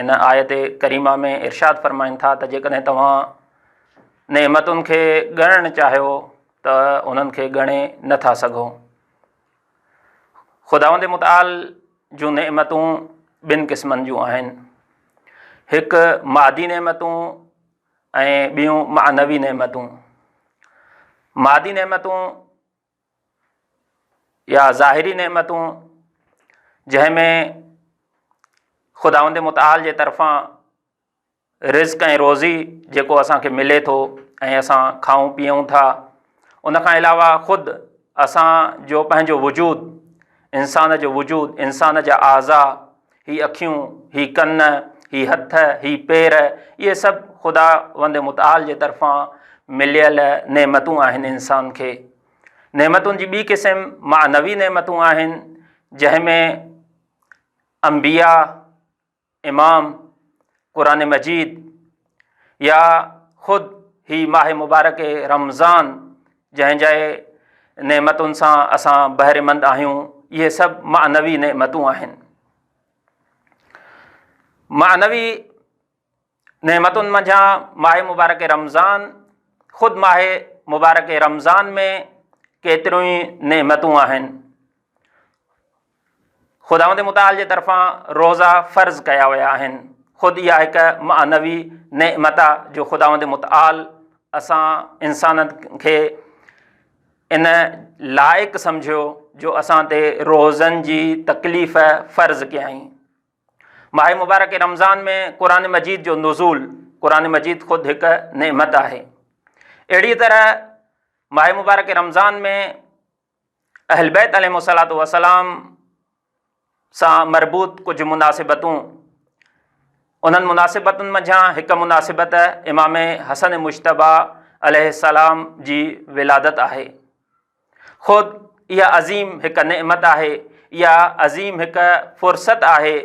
ان آيت ڪريمه ۾ ارشاد فرمائن ٿا ته جيڪڏهن توهان نعمتن کي ڳڻڻ چاهيو ته انهن کي ڳڻي نٿا سگهو خداوند متعال جون نعمتون ٻن قسمن جون آهن هڪ مادي نعمتون ۽ ٻيون معنوي نعمتون مادي نعمتون يا ظاهري نعمتون جنهن ۾ خداوند متعال جي طرفان رزق ۽ روزي جيڪو اسان کي ملي ٿو ۽ اسان کائون پيئون ٿا ان کان علاوه خود اسان جو پنهنجو وجود انسان جو وجود انسان جا اعضا هي اکيون، هي ڪن، هي هٿ، هي پير، اهي سڀ خداوند متعال جي طرفان مليل نعمتون آهن انسان کي. نعمتن جي ٻي قسم معنوي نعمتون آهن جنهن ۾ انبياء، امام، قرآن مجيد، يا خود هي ماهه مبارڪ رمضان جنهن جي نعمتن سان اسان بهريمند آهيون اهي سڀ معنوي نعمتون آهن معنوي نعمتن منجهان ماهه مبارڪ رمضان خود ماهه مبارڪ رمضان ۾ ڪيتريون ئي نعمتون آهن خداوند متعال جي طرفان روزا فرض ڪيا ويا آهن. خود اها هڪ معنوي نعمت آ جو خداوند متعال اسان انسانن کي ان لائق سمجهيو جو اسان تي روزن جي تڪليف فرض ڪيائين. ماه مبارڪ رمضان ۾ قرآن مجيد جو نزول، قرآن مجيد خود هڪ نعمت آهي. اهڙي طرح ماه مبارڪ رمضان ۾ اهلبيت عليهم الصلوة والسلام سان مربوط ڪجهه مناسبتون، انهن مناسبتن منجهان هڪ مناسبت امام حسن مجتبيٰ عليه السلام جي ولادت آهي. خود اها عظيم هڪ نعمت آهي، اها عظيم هڪ فرصت آهي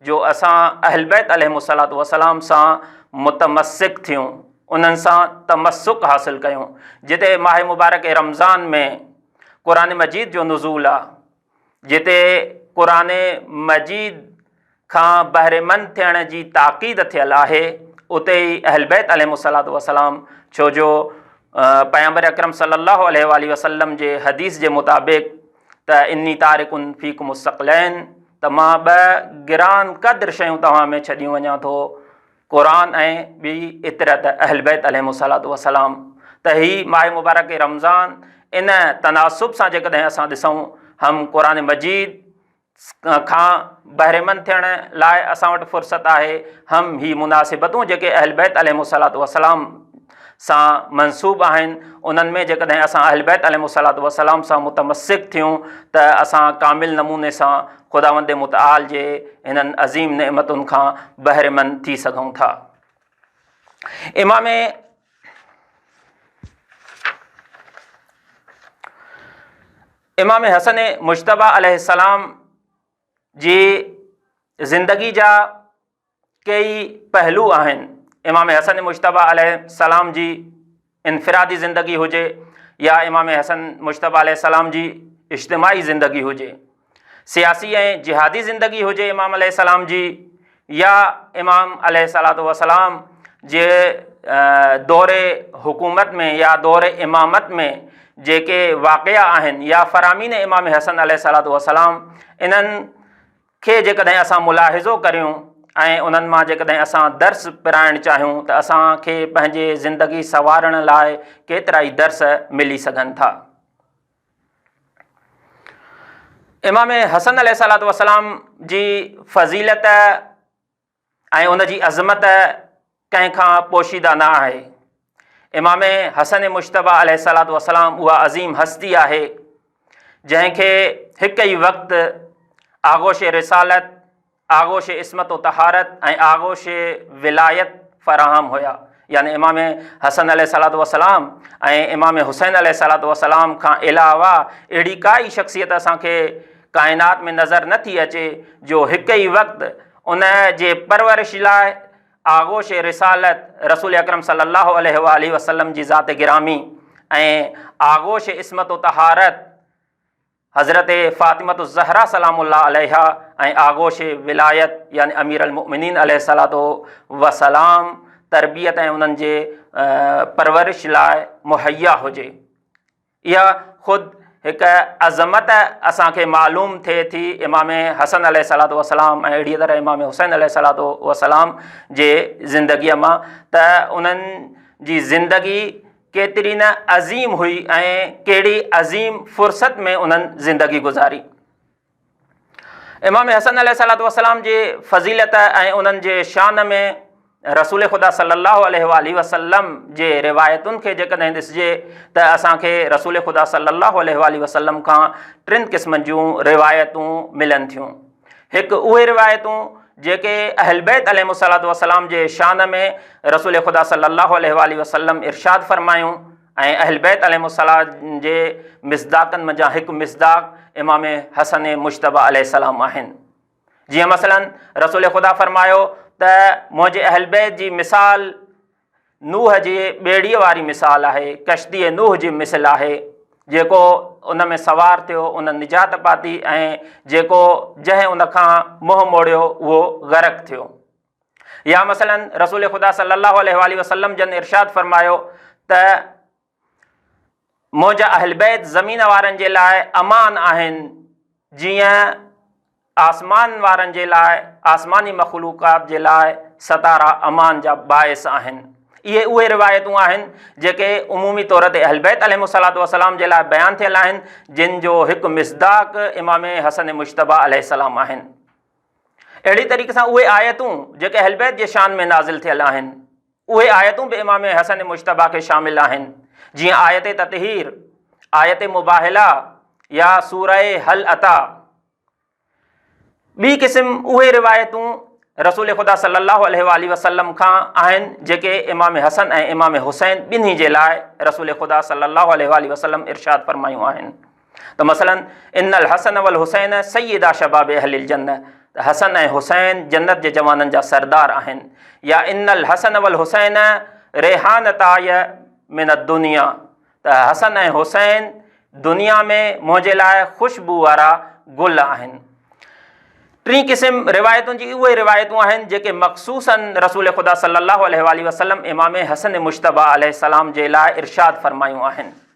جو اسان اهلبيت عليهم الصلوة والسلام سان متمسڪ ٿيون. انهن سان تمسڪ حاصل ڪيون جتي ماهه مبارڪ رمضان ۾ قرآن مجيد جو نزول آ جتي قرآن مجيد کان بهريمند ٿيڻ جي تاڪيد ٿيل آهي اتي ئي اهل بيت عليهم الصلوة والسلام ڇو جو پيغمبر اڪرم صلي الله عليه وآله وسلم جي حديث جي مطابق ته اني تارڪن فيڪم الثقلين ته مان ٻه گران قدر شيون توهان ۾ ڇڏيون وڃان ٿو قرآن ۽ ٻي ايتريا ته اهل بيت عليهم الصلوة والسلام ته هي ماه مبارڪ رمضان ان تناسب سان جيڪڏهن اسان ڏسون هم قرآن مجيد کان بهرمند ٿيڻ لاء اسان وٽ فرصت آهي هم هي مناسبتون جيڪي اهل بيت عليهم الصلوة والسلام سان منسوب آهن، انهن ۾ جيڪڏهن اسان اهلبيت عليهم الصلوة والسلام سان متمسڪ ٿيون ته اسان ڪامل نموني سان خداوند متعال جي هنن عظيم نعمتن کان بهرمند ٿي سگهون ٿا. امام امام حسن مجتبيٰ عليه السلام جي زندگي جا ڪيئي پهلو آهن، امام حسن مجتبيٰ عليه السلام جي انفرادي زندگي هجي يا امام حسن مجتبيٰ عليه السلام جي اجتماعي زندگي هجي، سياسي ۽ جهادي زندگي هجي امام عليه السلام جي يا امام عليه الصلوة والسلام جي دور حڪومت ۾ يا دور امامت ۾ جيڪي واقعا آهن يا فرامين امام حسن عليه الصلوة والسلام انهن کي جيڪڏهن اسان ملاحظو ڪريون ۽ انهن مان جيڪڏهن اسان درس پرائڻ چاهيون ته اسان کي پنهنجي زندگي سنوارڻ لاء ڪيترائي درس ملي سگهن ٿا. امام حسن عليه السلام جي فضيلت ۽ ان جي عظمت ڪنهن کان پوشيده نه آهي. امام حسن مجتبيٰ عليه الصلوة والسلام اها عظيم هستي آهي، جنهن کي هڪ ئي وقت آغوش رسالت، آغوش عصمت و طهارت ۽ آغوش ولايت فراهم هيا. يعني امام حسن عليه الصلوة والسلام ۽ امام حسين عليه الصلوة والسلام کان علاوه اهڙي ڪا ئي شخصيت اسان کي ڪائنات ۾ نظر نه ٿي اچي، جو هڪ ئي وقت ان جي پرورش لاء آغوش رسالت رسول اڪرم صلي الله عليه واٰله وسلم جي ذات گرامي ۽ آغوش عصمت و طهارت حضرت فاطمه الزهرا سلام الله عليها ۽ آغوش ولايت يعني امير المؤمنين عليه الصلاه والسلام تربيت ۽ انهن جي پرورش لاء مهيا هجي اها خود هڪ عظمت اسان کي معلوم ٿئي ٿي امام حسن عليه الصلاة والسلام ۽ اهڙيء طرح امام حسين عليه الصلاة والسلام جي زندگيء مان ته انهن جي زندگي ڪيتري نه عظيم هئي ۽ ڪهڙي عظيم فرصت ۾ انهن زندگي گذاري. امام حسن عليه الصلاة والسلام جي فضيلت ۽ انهن جي شان ۾ رسول خدا صلي الله عليه وآله وسلم جي روايتن کي جيڪڏهن ڏسجي ته اسان کي رسول خدا صلي الله عليه وآله وسلم کان ٽن قسمن جون روايتون ملن ٿيون هڪ اهي روايتون جيڪي اهل بيت عليهم الصلاة والسلام جي شان ۾ رسول خدا صلي الله عليه وآله وسلم ارشاد فرمايون ۽ اهل بيت عليهم السلام جي مصداقن منجهان هڪ مصداق امام حسن مجتبيٰ عليه السلام آهن. جيئن مثلاً رسول خدا فرمايو ته منهنجي اهل بيت جي مثال نوح جي ٻيڙيء واري مثال آهي، ڪشتيء نوح جي مثل آهي، جيڪو ان ۾ سوار ٿيو ان نجات پاتي ۽ جيڪو، جنهن ان کان منهن موڙيو، اهو غرق ٿيو. يا مثلاً رسول خدا صلّي اللّٰه عليه واٰله وسلّم جن ارشاد فرمايو ته منهنجا اهل بيت زمين وارن جي لاء امان آهن جيئن آسمان وارن جي لاء، آسماني مخلوقات جي لاء، ستارا امان جا باعث آهن. اهي اهي روايتون آهن جيڪي عمومي طور تي اهل بيت عليهم الصلواة والسلام جي لاء بيان ٿيل آهن جن جو هڪ مصداق امام حسن مجتبيٰ عليه السلام آهن. اهڙي طريقي سان اهي آيتون جيڪي اهلبيت جي شان ۾ نازل ٿيل آهن، اهي آيتون به امام حسن مجتبيٰ کي شامل آهن، جيئن آيت تطهير، آيت مباهله يا سوره هل اتيٰ. ٻي قسم اهي روايتون رسول خدا صلّي اللّٰه عليه واٰله وسلّم کان آهن جيڪي امام حسن ۽ امام حسين ٻنهي جي لاء رسول خدا صلّي اللّٰه عليه واٰله وسلّم ارشاد فرمايون آهن. ته مثلاً، ان الحسن والحسين سيدا شباب اهل الجنة ته حسن ۽ حسين جنت جي جوانن جا سردار آهن يا ان الحسن والحسين ريحانتاي من الدنيا ته حسن ۽ حسين دنيا ۾ منهنجي لاء خوشبو وارا گل آهن. ٽين قسم روايتن جي اهي روايتون آهن جيڪي مخصوصاً رسول خدا صلّي اللّٰه عليه واٰله وسلّم امام حسن مجتبيٰ عليه السّلام جي لاء ارشاد فرمايون آهن.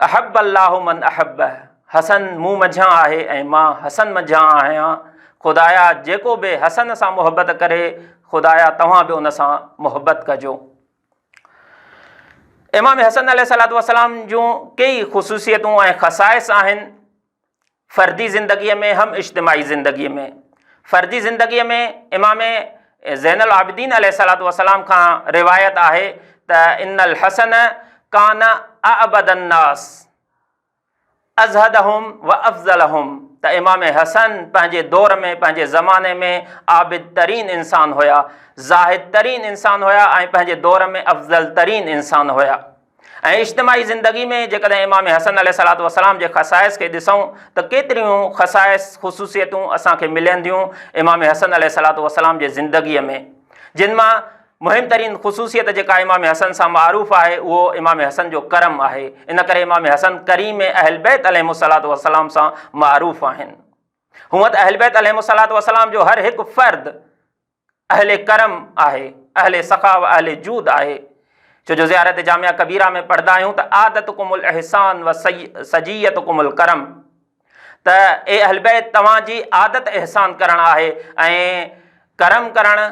احب الله من احبه، حسن مون منجهان آهي ۽ مان حسن منجهان آهيان، خدايا جيڪو به حسن سان محبت ڪري، خدايا توهان به ان سان محبت ڪجو. امام حسن عليه السلام جون ڪيئي خصوصيتون ۽ خصائص آهن، فردي زندگيء ۾ هم اجتماعي زندگيء ۾. فردي زندگيء ۾ امام زين العابدين عليه الصلوة والسلام کان روايت آهي ته ان الحسن ڪان اعبد الناس ازهدهم وافضلهم ته امام حسن پنهنجي دور ۾ پنهنجي زماني ۾ عابد ترين انسان هيا، زاهد ترين انسان هيا ۽ پنهنجي دور ۾ افضل ترين انسان هيا. ۽ اجتماعي زندگي ۾ جيڪڏهن امام حسن عليه الصلوة والسلام جي خصائص کي ڏسون ته ڪيتريون خصائص، خصوصيتون اسان کي ملين ٿيون امام حسن عليه الصلوة والسلام جي زندگيء ۾، جن مان مهم ترين خصوصيت جيڪا امام حسن سان معروف آهي اهو امام حسن جو ڪرم آهي، ان ڪري امام حسن ڪريم اهلبيت عليهم الصلوة والسلام سان معروف آهن. هونئن ته اهلبيت عليهم الصلوة والسلام جو هر هڪ فرد اهل ڪرم آهي، اهل سخا و اهل جود آهي، ڇو جو زيارت جامعه ڪبيره ۾ پڙهندا آهيون ته عادتڪم الاحسان و سجيتڪم الڪرم ته اي اهل بيت توهان جي عادت احسان ڪرڻ آهي ۽ ڪرم ڪرڻ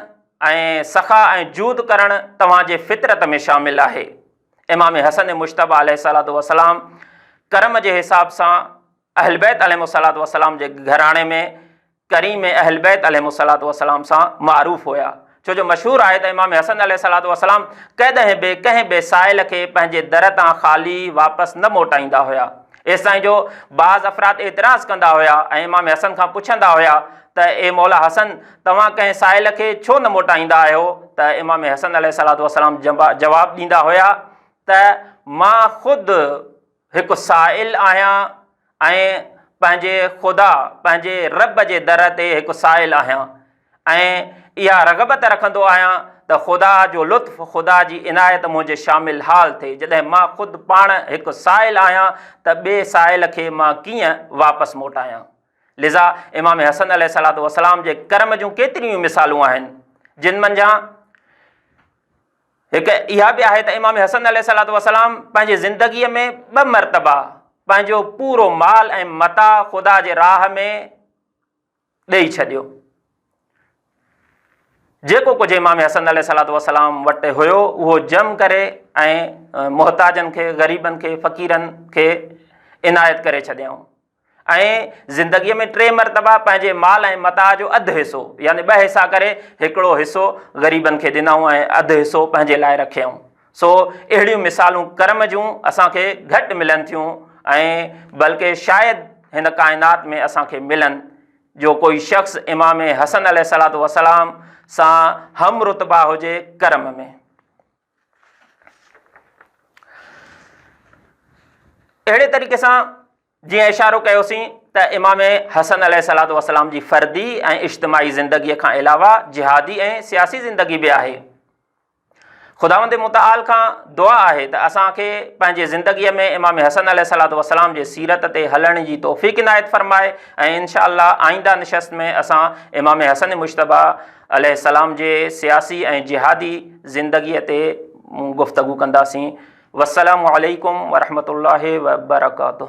۽ سخا ۽ جود ڪرڻ توهان جي فطرت ۾ شامل آهي. امام حسن مجتبيٰ عليه الصلوة والسلام ڪرم جي حساب سان اهلبيت عليهم الصلوة والسلام جي گهراڻي ۾ ڪريم اهلبيت عليهم الصلوة والسلام سان معروف هيا، ڇو جو مشهور آهي ته امام حسن عليه الصلوة والسلام ڪڏهن به ڪنهن به سائل کي پنهنجي در تان خالي واپس نه موٽائيندا هيا، ايستائين جو بعض افراد اعتراض ڪندا هيا ۽ امام حسن کان پڇندا هيا ته اي مولا حسن توهان ڪنهن سائل کي ڇو نه موٽائيندا آهيو ته امام حسن عليه الصلوة والسلام جواب ڏيندا هيا ته مان خود هڪ سائل آهيان ۽ پنهنجي خدا، پنهنجي رب جي در تي هڪ سائل آهيان ۽ اها رغبت رکندو آهيان ته خدا جو لطف، خدا جي عنايت منهنجي شامل حال ٿئي. جڏهن مان خود پاڻ هڪ سائل آهيان ته ٻئي سائل کي مان ڪيئن واپس موٽايان؟ لذا امام حسن عليه السلام جي ڪرم جون ڪيتريون ئي مثالون آهن، جن منجهان. هڪ اها به آهي ته امام حسن عليه الصلوة والسلام پنهنجي زندگيء ۾ ٻه مرتبا پنهنجو پورو مال ۽ متاع خدا جي راهه ۾ ڏيئي ڇڏيو. جيڪو ڪجهه امام حسن عليه الصلوة والسلام وٽ هيو اهو جم ڪري ۽ محتاجن کي، غريبن کي، فقيرن کي عنايت ڪري ڇڏيائون. ائين زندگيء ۾ ٽي مرتبا پنهنجي مال ۽ متاع جو اڌ حصو يعني ٻه حصا ڪري هڪڙو حصو غريبن کي ڏنائون ۽ اڌ حصو پنهنجي لاء رکيائون. سو اهڙيون مثالون ڪرم جون اسان کي گهٽ ملن ٿيون ۽ بلڪه شايد هن ڪائنات ۾ اسان کي ملن جو ڪوئي شخص امام حسن عليه الصلوة والسلام سان هم رتبه هجي ڪرم ۾. اهڙي طريقي سان جيئن اشارو ڪيوسين ته امام حسن عليه صلاحت وسلام جي فردي ۽ اجتماعي زندگيء کان علاوه جهادي ۽ سياسي زندگي به آهي خداوند متعال کان دعا آهي ته اسان کي پنهنجي زندگيء ۾ امام حسن عليه صلاحت وسلام جي سيرت تي هلڻ جي توفيق عنايت فرمائي ۽ انشاء الله آئنده نشست ۾ اسان امام حسن مشتبه عليه السلام جي سياسي ۽ جهادي زندگيء تي مون گفتگو ڪنداسين. والسلام عليڪم ورحمة الله وبرڪاته.